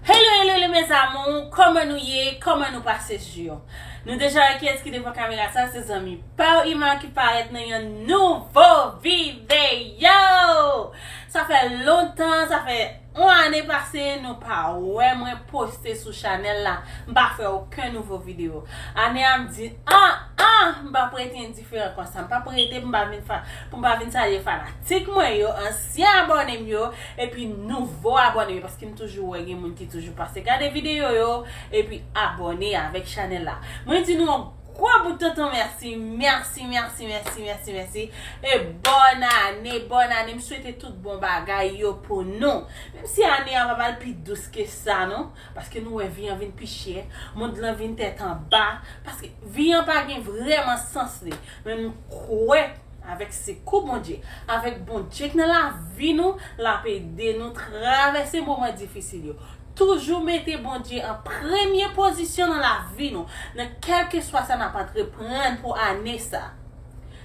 Hello hello le mes amour, koman nou ye, koman nou pase jou Nou deja wè kiyès ki devan kamera sa se zanmi Paw Ima ki parèt nan yon nouvo videyo Sa fè lontan, sa fè on ane pase nou pa wè mwen poste sou chanèl la M pa fè oken nouvo videyo Ane a m di an an m pa prete di fè ankò sa. M pap rete pou m pa vin pou m pa vin salye fanatik mwen yo, ansyen abòne m yo, epi nouvo abòne m yo paske m toujou wè gen moun ki toujou pase gade videyo yo epi abòne avèk chanèl la. Mwen di nou yon gwo bout tonton mèsi, mèsi, mèsi, mèsi, mèsi, mèsi e bòn ane, bòn ane, m swete tout bon bagay yo pou nou. Menm si ane a pap al pi dous ke sa non. Paske nou wè vi an vin pi chè, mond lan vin tèt anba, paske vi an pa gen vrèman sans li. Men nou kwè avèk sekou Bondye, avèk Bondye k nan lavi nou, l ap ede nou travèse moman difisil yo. Toujou mete Bondye an premye pozisyon nan lavi nou, nan kèlkeswa sa n ap antreprann pou ane sa.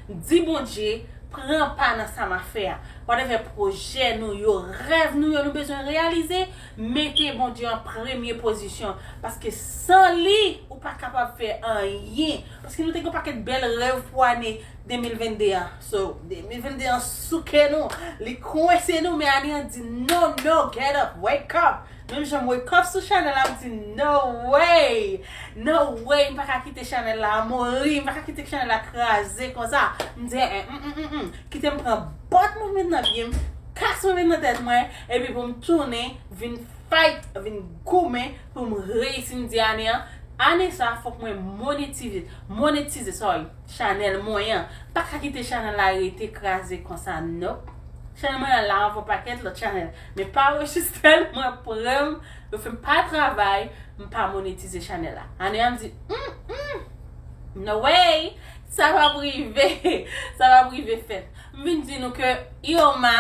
Di Bondye, pran pa nan sa m ap fè a. Whatever pwojè nou yo, rèv nou yo nou bezwen reyalize, Mete Bondye an premye pozisyon paske san li ou pa kapab fè anyen paske nou te gen yon pakèt bèl rèv pou ane 2022 an so 2022 an souke nou li kwense nou men ane an di no no get up wake up menm jan m wake up sou chanèl la m di no way no way m pa ka kite chanèl la mouri m pa ka kite chanèl la kraze konsa m di eh eh m m m m kite m pran bòt mwen met nan pye m kas mwen met nan tèt mwen. Epi pou m tounen vin fight, vin goumen pou m reyisi m di ane an, ane sa fòk mwen monetize, monetize sorry, chanèl mwen an. M pa ka kite chanèl la rete kraze konsa nope. Chanèl mwen an la anvan pakèt lòt chanèl. Men pa anrejistre l, mwen pran m, yo fè m pa travay, m pa monetize chanèl la. Ane an m di Humm, no way, sa p ap rive, sa p ap rive fèt. M vin di nou ke Irma.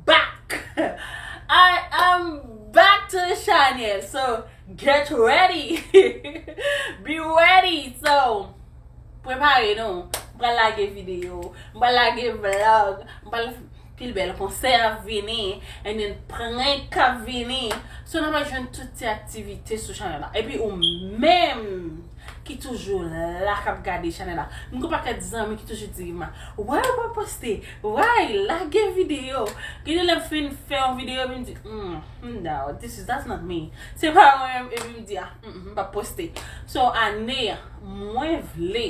back I am back to the channel so get ready be ready so prepare nou m pral lage video m pral lage vlog m pral pil bèl konsè ap vini and then prank ap vini so nan pral jwenn tout ti aktivite sou channel la epi ou menm ki toujou la kap gade channel la m gen yon pakèt zanmi ki toujou di m wè ou pa poste Ray lage video. Gen de lè m fin fè yon video epi m di humm no this is that's not me. Se pa mwen menm epi m di a humm m pap poste. So ane a mwen vle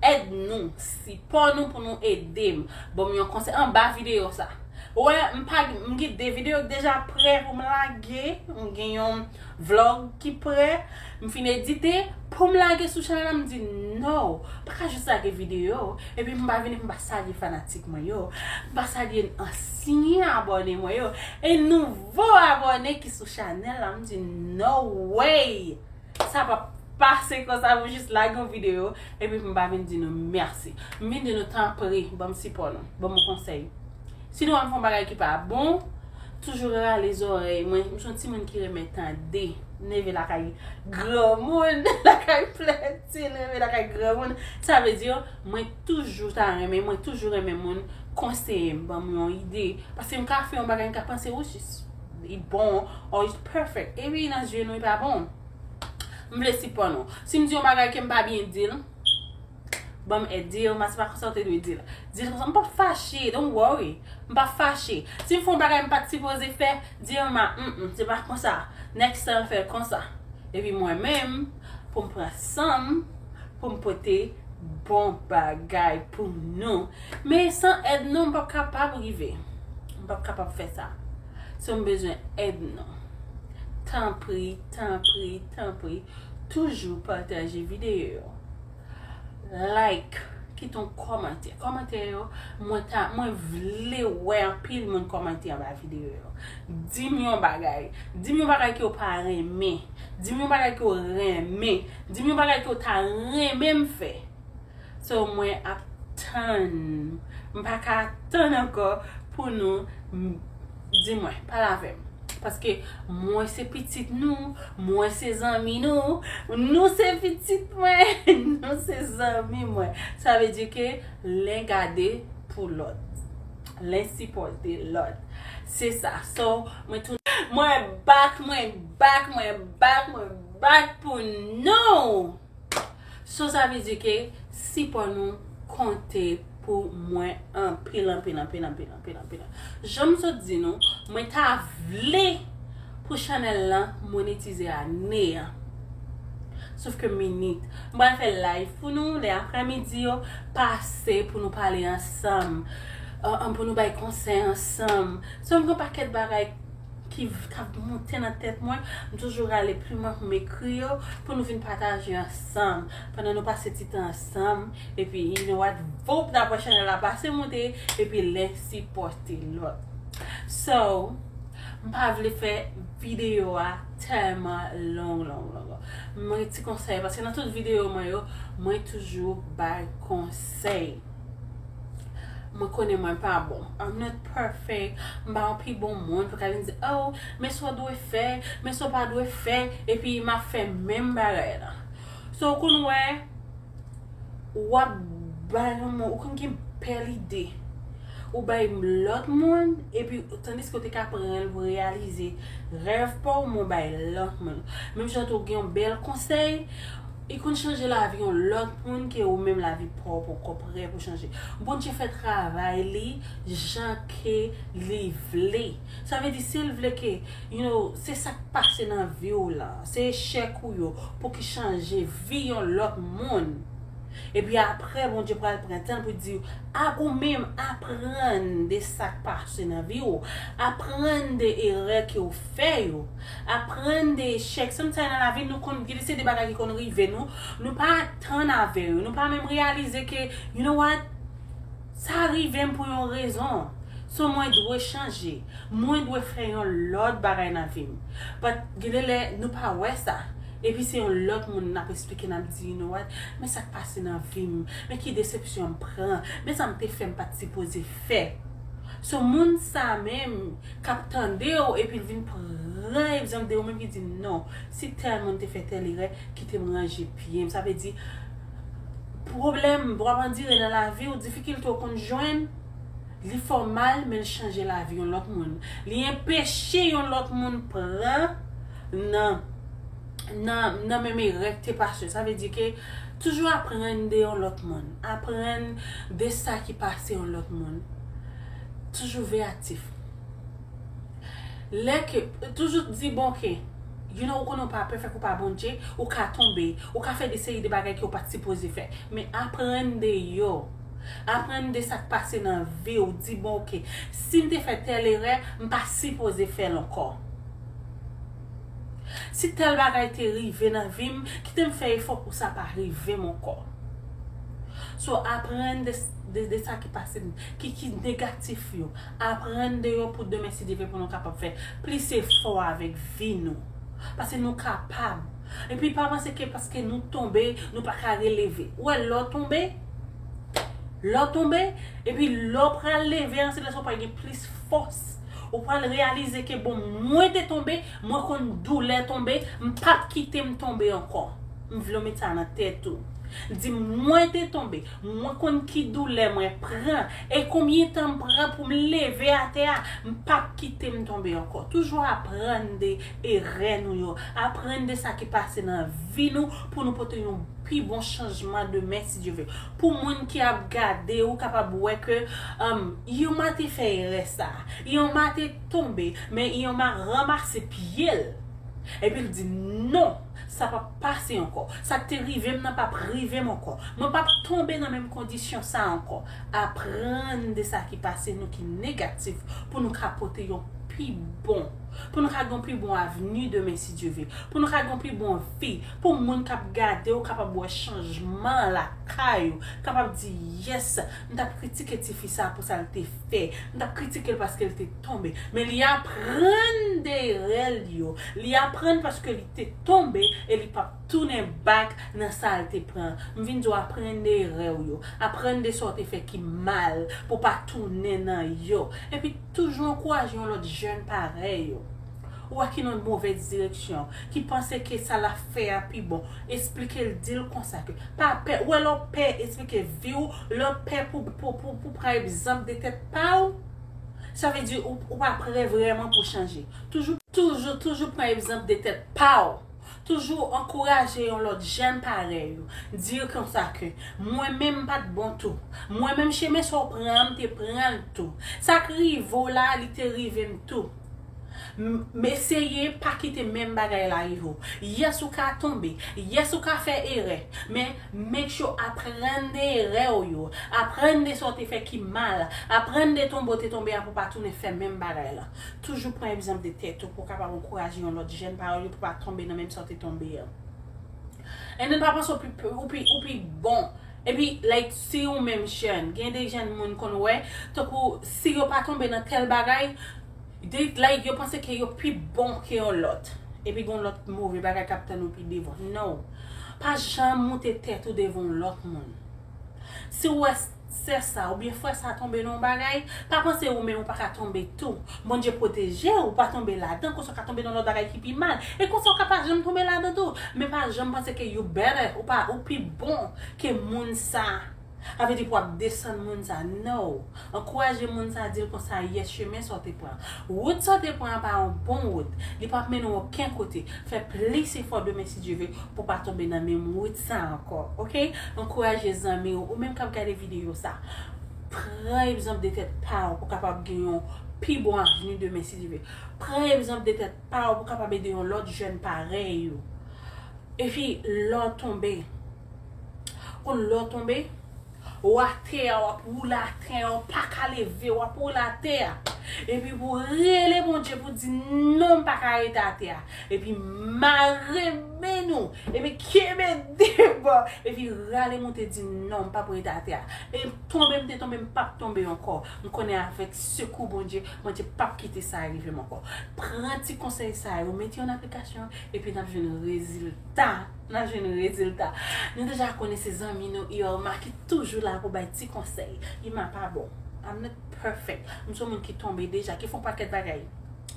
èd nou, sipò nou pou nou ede m. Ban m yon konsèy anba video sa. Ou wè m pa m gen 2 video ki deja prè pou m lage. M gen yon Vlog ki prè, m fin edite, poum lage sou chanèl la m di no, pa ka jis lage video, epi m pa vini m pa salye fanatik mwen yo, m pa salye ansyen abòne mwen yo, e nouvo abòne ki sou chanèl la m di no way! Sa pa p pase konsa pou m jis lage yon video epi pou m pa vin di nou mèsi. M vin di nou tanpri banm sipò nou, banm yon konsèy. Si nou ap fè yon bagay ki pa bon, toujou rale zòrèy mwen. M son timoun ki renmen tande. M leve lakay granmoun, lakay plenti, m leve lakay granmoun. Sa vle di, mwen toujou ta renmen, mwen toujou renmen moun konseye m, ban m yon ide. Paske m ka fè yon bagay, m ka panse ou jis li bon, or it's perfect. Epi nan zye nou li pa bon. M vle sipò nou. Si m di yon bagay ke m pa byen di l. Banm èd, di Irma se pa konsa ou te dwe dil. Dil konsa, m pap fache, don't worry. M pap fache. Si m fè yon bagay m pat sipoze fè, di Irma, m m, se pa konsa. Next time fè l konsa. Epi mwen menm, pou m pran san m, pou m pote bon bagay pou nou. Men san èd nou m pap kapab rive. M pap kapab fè sa. So m bezwen èd nou. Tanpri, tanpri, tanpri, toujou pataje videyo yo. like kite yon kòmantè kòmantè yo mwen ta mwen vle wè anpil moun kòmante anba videyo yo dim yon bagay dim yon bagay ke w pa renmen dim yon bagay ke w renmen dim yon bagay ke w ta renmen m fè so mwen ap tann m pa ka tann ankò pou nou Di mwen, pale avè m. Paske mwen se pitit nou, mwen se zanmi nou, nou se pitit mwen, nou se zanmi mwen. Sa vle di ke len gade pou lòt. Len sipòte lòt. Se sa. So, mwen tou. Mwen bak, mwen bak, mwen bak, mwen bak pou nou! So sa vle di ke sipò nou konte pou mwen anpil anpil anpil anpil anpil anpil. Jan m sot di nou, mwen ta vle pou chanèl lan monetize ane an. Sof ke minit. M pral fè live pou nou lè aprè midi yo, pase pou nou pale ansanm, pou nou bay konsèy ansanm. So m gen yon pakèt bagay. ki t ap monte nan tèt mwen, m toujou rale plim mwen pou m ekri yo pou nou vin pataje ansanm pandan nou pase ti tan ansanm epi you know what voup nan pran chanèl la pase moute epi len sipòte lòt so m pa vle fè videyo a tèlman long long long m gen ti konsèy paske nan tout videyo mwen yo mwen toujou bay konsèy. Mwen konnen mwen pa bon. I'm not perfect. M pa yon pi bon moun pou ka vin di, oh, men sa w dwe fè, men sa w pa dwe fè, epi m ap fè menm bagay la. So, w konn wè, w ap bay yon moun, ou konn gen bèl lide, ou bay lòt moun, epi tandiske ou te ka pran l pou reyalize rèv pa w, men w bay lòt moun. Menm jan tou, ou gen yon bèl konsèy. Li konn chanje lavi yon lòt moun ke ou menm lavi paw poko prè pou chanje. Bondye fè travay li jan ke li vle. Sa vle di sil vle ke you know se sak pase nan viw lan, se echèk ou yo pou ki chanje vi yon lòt moun. Epi aprè Bondye pral pran tanl pou diw a ou menm aprann de sak pase nan viw, aprann de erè ke ou fè yo. Aprann de echèk. Sometimes nan lavi nou konn gen de se de bagay ki konn rive nou, nou pa atann avè yo, nou pa menm reyalize ke you know what, sa rivem pou yon rezon, so mwen dwe chanje, mwen dwe fè yon lòt bagay nan vim. But gen de lè nou pa wè sa, epi se yon lòt moun nap esplike nap di you know what, men sak pase nan vim, men ki desepsyon mpran, men sa mte fè mpat sipoze fè. So moun sa menm. k ap tande w epi l vin pran egzanp de ou menm ki di non si tèl moun te fè tèl erè kite m ranje pye m sa vle di pwoblèm w ap andire nan lavi w difikilte w konn jwenn li fè w mal men l chanje lavi yon lòt moun li enpeche yon lòt moun pran nan nan menm erè k te pase sa vle di ke toujou aprann de yon lòt moun aprann de sa ki pase yon lòt moun. Toujou veyatif. Lè ke, toujou di bon ke, you know ou konnen ou pa pèfèk, ou pa Bondje, ou ka tonbe, ou ka fè de seri de bagay ke ou pat sipoze fè. Men aprann de yo. Aprann de sa k pase nan vi w, di bon ok, si m te fè tèl erè, m pa sipoze fè l ankò. Si tèl bagay te rive nan vi m, kite m fè efò pou sa pa rive m ankò. So aprann de sa ki pase, ki ki negatif yo, aprann de yo pou demen si Dye vle pou nou kapab fè plis efò avèk vi nou. Pase nou kapab. Epi pa panse ke paske nou tonbe nou pa ka releve. Ou wè lè w tonbe, lè w tonbe, epi lè w pral leve an se lè sa w pral gen plis fòs. Ou pral reyalize ke bon mwen te tonbe, mwen konn doulè tonbe, m pap kite m tonbe ankò. M vle w met sa nan tèt ou. Di mwen te tonbe. Mwen konn ki doulè mwen pran e konbyen tan m pran pou m leve atè a, m pap kite m tonbe ankò. Toujou aprann de erè nou yo, aprann de sa ki pase nan vi nou pou nou pote yon pi bon chanjman demen si Dye ve. Pou moun ki ap gade ou kapab wè ke Irma te fè erè sa, Irma te tonbe men Irma ranmase pye l epi l di non sa pap pase ankò. Sa k te rive m nan pap rive m ankò. Mwen pap tonbe nan menm kondisyon sa a ankò. Aprann de sa ki pase nou ki negatif pou nou ka pote yon pi bon, pou nou ka gen yon pi bon avni demen si Dye ve, pou nou ka gen yon pi bon vi, pou moun k ap gade w kapab wè chanjman lakay ou, kapab di, Yès, m t ap kritike tifi sa a pou sa l te. te, m t ap kritike l paske l te tonbe. Men li aprann de erè l yo. Li aprann paske li te tonbe e li p ap tounen back nan sa l te pran. M vin di w aprann de erè w yo. Aprann de sa w te fè ki mal pou w pa tounen nan yo. Epi toujou ankouraje yon lòt jèn parèy ou. Ou wè ki nan movèz direksyon, ki panse ke sa lap fè a pi bon, esplike l, di l konsa ke pa pè, ou wè lè w pè esplike vi w, lè w pè pou pou pran egzanp de tèt pa w, sa vle di ou pa prè vrèman pou chanje. Toujou, toujou, toujou pran egzanp de tèt pa w. Toujou ankouraje yon lòt jèn parèy ou, di yo konsa ke, mwen menm m pat bon tou, mwen menm chemen sa w pran an m te pran l tou, sa k rive w la li te rive m tou, m eseye pa kite menm bagay la rive w, yes ou ka tonbe, yes ou ka fè erè, men make sure aprann de erè w yo, aprann de sa w te fè ki mal, aprann de tonbe w te tonbe a pou w pa tounen fè menm bagay la. Toujou pran egzanp de tèt ou pou w kapab ankouraje yon lòt jèn parèy ou pou pa tonbe nan menm sa w te tonbe an. And then pa panse w pi ou pi ou pi bon. Epi like si yon menm jèn, gen de jèn moun konn wè tankou si yo pa tonbe nan tèl bagay they like yo panse ke yo pi bon ke yon lòt. Epi gen yon lòt move bagay k ap tann ou pi devan. No. Pa janm moute tèt ou devan yon lòt moun. Si w wè. Sè sa ou byen frè sa tonbe nan yon bagay, pa panse ou menm ou pa ka tonbe tou. Bondye pwoteje ou pa tonbe ladan, konsa ou ka tonbe nan lòt bagay ki pi mal. E konsa ou ka pa janm tonbe ladan tou. Men pa janm panse ke you better, ou pa, ou pi bon ke moun sa. Sa vle di pou wap desann moun sa. No! Ankouraje moun sa, dil konsa yes chemen sa ou te pran. Wout sa w te pran an pa yon bon wout. Li pap mennen w oken kote. Fè plis efò demen si Dye ve pou w pa tonbe nan menm wout sa ankò. Ok? Ankouraje zanmi w, ou menm k ap gade videyo sa. Pran egzanp de tèt pa w pou w kapab gen yon pi bon avni demen si Dye ve. Pran egzanp de tèt pa w pou w kapab ede yon lòt jèn parèy ou. Epi lè w tonbe, ou konn lè w tonbe? Ou atè a wap woule atè a ou paka leve wap woule atè a epi pou rele Bondye pou di non mpaka rete atè a epi mare men ou epi kenbe debò epi rale moute di non mpap rete atè a e tonbe mte tonbe mpap tonbe ankò mkonnen avèk sekou Bondye Bondye pap kite sa rivem ankò pran ti konsèy sa yo mete yo nan aplikasyon epi nap jwenn rezilta. Nap jwenn rezilta. Nou deja konnen se zanmi nou Irma ki toujou la pou bay ti konsèy. Irma pa bon. I'm not perfect. M son moun ki tonbe deja, ki fon pakèt bagay.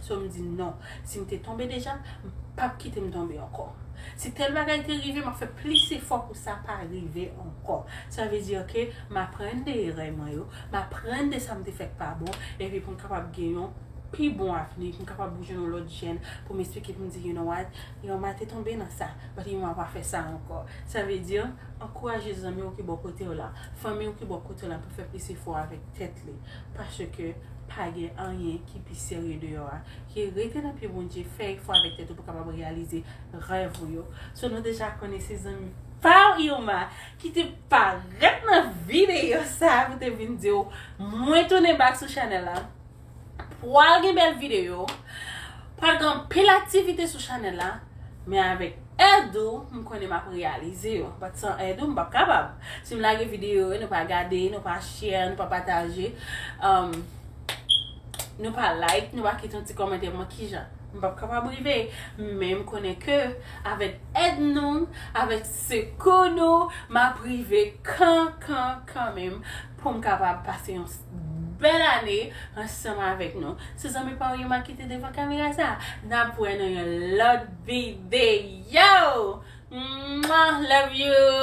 So m di non. Si m te tonbe deja, m pap kite m tonbe ankò. Si tèl bagay te rive, map fè plis efò pou sa pa rive ankò. Sa vle di ke m aprann de erè mwen yo, m aprann de sa m te fè k pa bon, epi pou m kapab gen yon pi bon avni, pou m kapab jwenn yon lòt jèn pou m esplike pou m di you know what, Yon mwa te tonbe nan sa, but yon mwa pa fè sa ankò. Sa vle di, ankouraje zanmi w ki bò kote w lan, fanmi w ki bò kote w lan pou fè plis efò avèk tèt li. Paske, pa gen anyen ki pi serye deyò a. Ki rete nan pye Bondye, fè efò avèk tèt ou pou kapab reyalize rèv ou yo. So nou deja konnen se zanmi pa w Irma ki te parèt nan videyo sa pou te vin di w mwen tounen back sou chanèl la. Pwal gen bèl videyo, pwal gen anpil aktivite sou chanèl la, men avèk èd ou m konnen m ap reyalize yo. Bat san èd ou m pap kapab. Si m lage videyo yo, nou pa gade, nou pa share, nou pa pataje, um, nou pa like, nou pa kite yon ti kòmantè mwen ki jan. M pap kapab rive, men m konnen ke avèk èd nou, avèk sekou nou, m ap rive kan kan kan menm. poum kapab pase yon bèl ane ansanm avèk nou. Se zanmi pa ou yo map kite devan kamera sa. Nap wè nan yon lòt videyo! Mwah! Love you!